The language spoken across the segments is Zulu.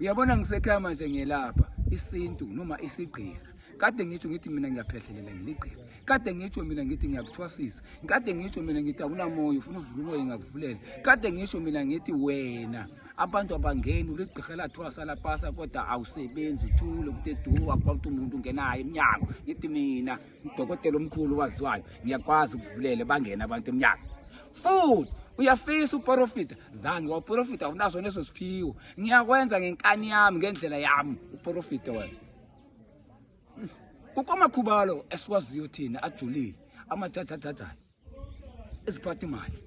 uyabona ngisekhaya manje ngiyelapha isintu noma isigqira kade ngitsho ngithi mina ngiyaphehlelela ngiligqira kade ngitsho mina ngithi ngiyakuthwasisa kade ngitsho mina ngithi awunamoya ufuna uvula umoya ngakuvulela kade ngitsho mina ngithi wena abantu abangeni uligqirha lathwasa lapasa kodwa awusebenzi uthule kude duwa kwakuthe umuntu ungenayo emnyango ngithi mina udokotela omkhulu waziwayo ngiyakwazi ukuvulele bangene abantu emnyango futhi uyafisa uporofita zange waporofita awunaso neso siphiwo ngiyakwenza ngenkani yami ngendlela yami uporofita wena kukomakhubalo esiwaziyo thina ajulile amathathathathayo eziphatha imali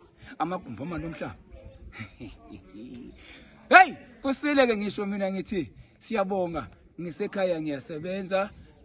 amagumbi amali omhlaba heyi kusile-ke ngisho mina ngithi siyabonga ngisekhaya ngiyasebenza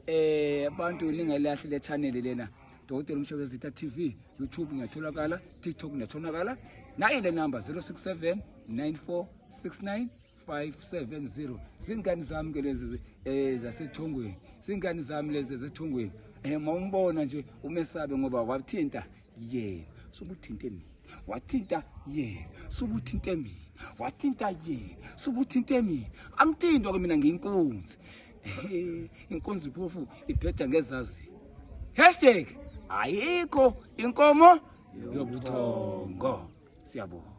eh abantu ningelahle le channel lena dokotela umshebezitha tv youtube ngiyatholakala tiktok ngiyatholakala nayi le number 067 9469 570 zingane zami ke lezi eh zasethongweni singane zami lezi zasethongweni eh mawumbona nje umesabe ngoba wathinta yena sokuthinte mina wathinta yena sokuthinte mina wathinta yena sokuthinte mina amthinto ke mina ngiyinkunzi inkunzi phofu iphetha ngezazi hashtag ayikho inkomo yobuthongo siyabonga